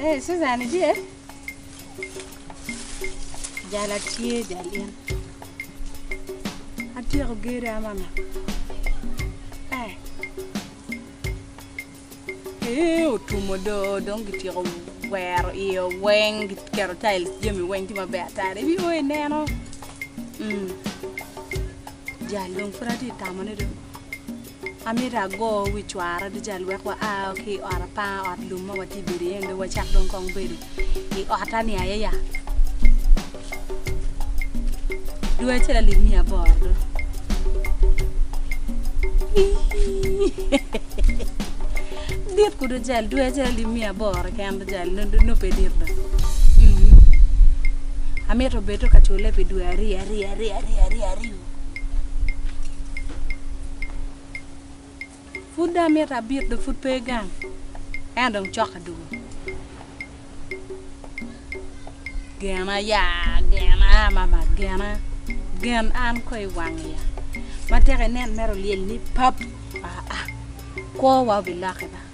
Ee Suzan itye? Jal atye jal in. Atyeko gere a mama. Ee. Ee otumo do dong gityeko wero iye weng giketo tail jami weng tye maber ata. Ibi o ineno. Mm. Jal dong pud atye tamone do. Amito ago wi cwara duca wek wa a ki i ot apanga, ot lum ma watye ka bedo iye-ni dong wacak dong kong bedo i ota-ni aye ya. Dwe acel alip miya aboro do. Dit ku duca, dwe acel alip miya aboro keken duca nongo pe dit do. Amito bedo ka cule pi dwe aryo aryo aryo aryo aryo aryo. Pud dong amito abit dong pud pe gang ento dong cokke dwogo. Gena ya, gena a mama, gena. Gen an kong i wang iya. Ma tek inen mere olyelni pap. Aa, kwowa obilokke ba.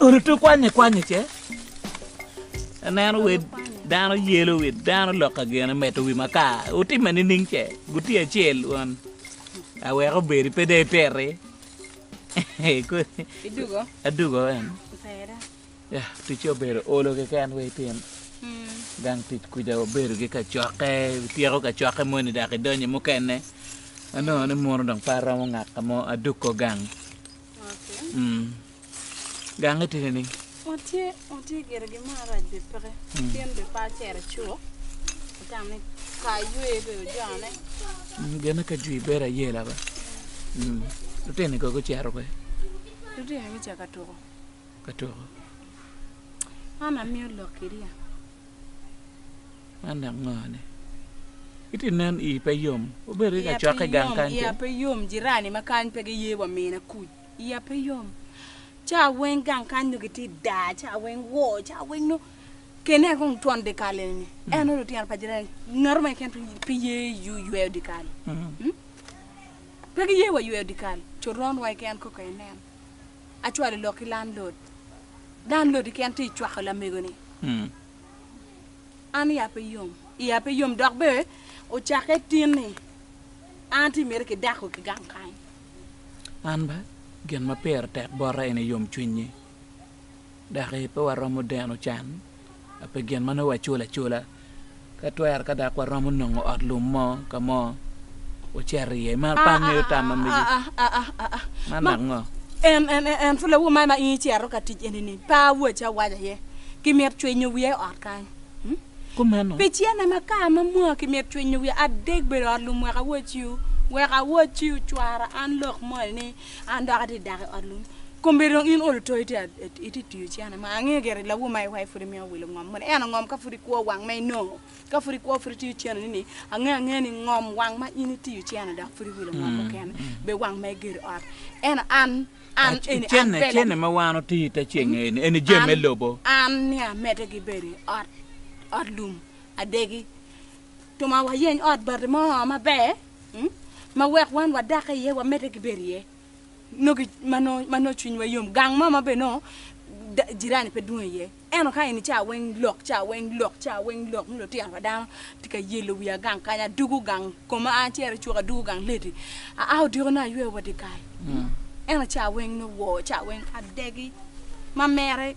Orutu kwanye kwanye ce aneno wer dano yelo wer dano loka gene medo wi makar otime nining ce guti acel won awek obedi pe dong iteri adugo en. Ticce obedo olo keken wek itim gang tic kwija. Wabedo ki kacokke, ityeko kacokke moni dok idonyo i mukene. Anongo ni muno dong pe aromo ngaka mo, adukko gang. Gangi tye nining? Watye, watye gire gin mo arac bene peke. Pien bene pe acero cuk. Atamo ni ka aywe bene ojone. Gene ka jwi bedo ayela ba. Lutini kono gucito kwe? Lutini gucako ka tuko. ka tuko. An amiyo lok ki ryek. Man dok ngone? Itye nen ii pe yom. Obedo ki ka cokke gang kany kene. Iya pe yom. Jirani ma kany pe giye wa mina kuc. Iya pe yom. Ca weng gang kany nongo gitye daa, ca weng woo, ca weng nongo kene kong twon dikal eni ni. Mm. En lutino pa jirani ngato ma keken pe ye yweyo dikal. Mm. Mm? Pe giye wa yweyo dikal. Coron wa keken koko inen. acwalo lok ki landlord. Landlord keken tye ka cwako lamego ni. An iya pe yom, iya pe yom dok bene ocakke tin ni an tye miti ki dako ki gang kany. An bene gin ma pire tek bota ene yom cwinyi. Doki pe waromo deno can pi gin ma nongo waculo acula. Ka twero ka dok waromo nongo ot lum mo ka mo, wucito iye. I mar pa an ngeyo tam ma megi. Man dok ngo? En pud lawu man ma in icito ka tic eni-ni pe awaci awaca aye ki mit cwinyo wiya i ot kany. Kumeno. Pi cene ma ka ma mwaa ki mit cwinyo wiya adek bedo ot lum wek awaciwu, wek awaciwu cwara an lok moni ni An dok atye dako i ot lum. Kombe dong in olo to itye itye tiyo cene ma angeyo gire lawu ma iwaye pud imiyo welo ngom moni eno ngom ka pud ikwo wang ma inongo ka pud ikwo pud itiyo cene ni ni angeyo angeyo ni ngom wang ma in itiyo cene dok pud iwilo ngom mukene be wang ma igero ot eno an an eni an Cene pele cene ma wan otiyo ite ceng eni eni jami me an- lobo. an ni amede gibedo i ot ot lum adegi Twoma wayeny ot bati mo maber ma wek wan wadakke iye wamedde ki bedo iye nongo ma nongo cwinywa yom gang mo ma bene nongo jirani pe dwong iye ento ka eni ca weng lok ca weng lok ca weng lok nongo lutino pa dano tye ka yelo wiya gang kany adwogo gang koma an acito icuka adwogo gang leti aa odiko nongo ayweyo wa dyekal ento ca weng nongo wor ca weng adegi ma mere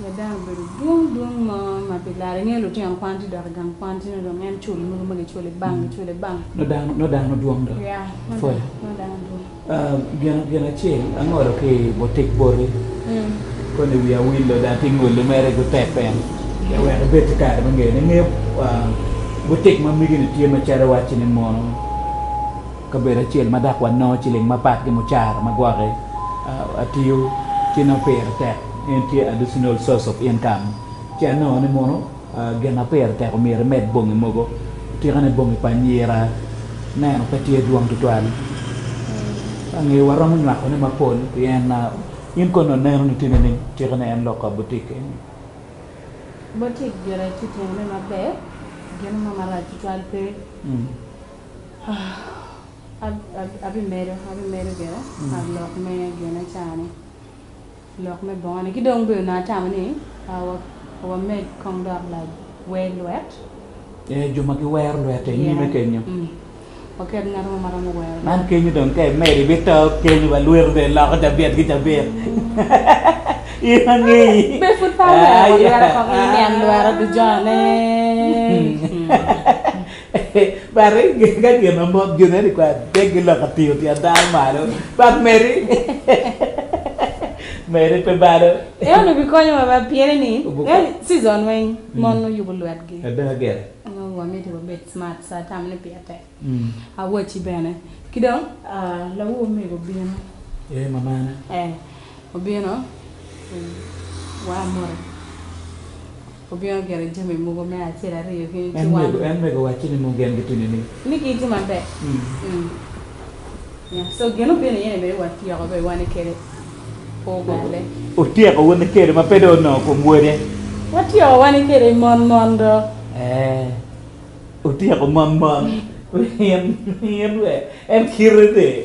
Me dano bedo dwong dwong mo ma pi lare, ingeyo lutino kwan tye dok i gang kwan tye nongo dong en culi mogo ma giculi i bank giculi i bank. Nongo dano nongo dano dwong dok ya pwod nongo dano dwong. Gin gin acel angolo ki bo tic boti koni wiya wilo dok tye ngoli mere gu tek bene pe wek ibed ki kare me ngeyone. Ingeyo butik ma migi ni tye macalo iwacci ni mono. Kabedo acel ma dok wanongo ciling mapat ki mucara ma gwokke atiyo ci nongo pire tek en tye additional source of income ci anongo ni mono gin ma pire tek omyero imed bongi mogo otikane bongi pa anyira neno pe tye dwong tutwal ange waromo nywako ne mapol pien in kong nongo ineno ni tye nining otikane en lok ka butik eni. Butik gire tye timo ne maber gin mo marac tutwal pe Abimedo, abimedo gire lok me Genaca-ni, lok me bongone. Ki dong bene onongo atamo ni wamed kong dok lawer lwet. Ee, jo ma giwero lwette i nyime kenyo. Waket ngat mo ma romo wero lwet. Man kenyo dong ka imedo ibito kenyo wa lweti bene loko cabit ki cabit. In wangeyi. Be pud pe awero lweta kong iniang lweta duconne. Bati ka gin ma mot joni aye likwa adek giloko atingo tyen dano malo but meri meri pe balo. En onongo bikonyo wa baa pien ni season weng mon nongo yubo lwet gi nongo wa miti wa bed smart sa tam ni piya tek awaci bene ki dong lawu omego obino ee mamana ee obino wa moti. Obino geno jami mogo me acel aryo ki wang. En mego, en mego wacci ni mogo gen gitini ni. Ni gin tye maber. Mm. Yeah. So gin obino iye ni bene wa tyeko be wane kede kor galle. Otyeko wane kede ma pe dong onongo kom wode. Wa tyeko wane kede mon mon do. Eh. Otyeko mon mon. In, in wee. En kite ni.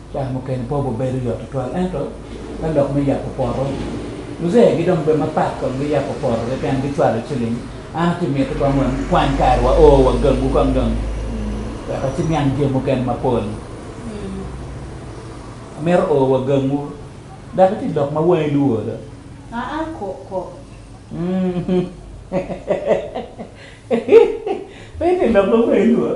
Caa mukene pe obibedo yot tutwal, ento me lok me yabo poto, luzee gi dong bed mapat kong giyabo poto keken gicwalo ciling. An ci mitte kong wang kwany kare wa oo wa gangu kong dong weka ci niang jami mukene mapol. Amito oo wa gangu dok iti lok ma wangi luwoo do. Aa koko. Pe iti lok ma wangi luwoo.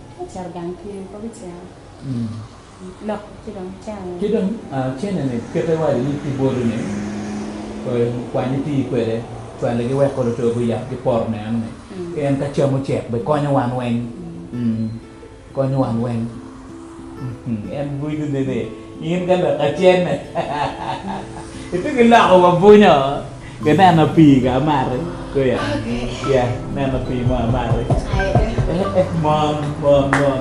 Cito gang tye i kor ceng lok ci dong cene. Ci dong cene ni pite wadi ni ki bolu ni kwany iti kwede cwale gi wek kolo to guyab ki poto ne ano ni en ka cam ocek be konyo wan weng konyo wan weng en gudo ne ni. In ka lok acenne itye ki loko wa bunyo ki neno pii ka amati kweya ya neno pii mo amati mon mon mon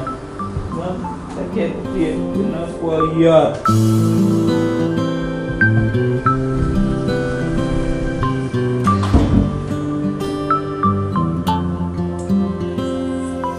mon kacel tye inongo kwo yot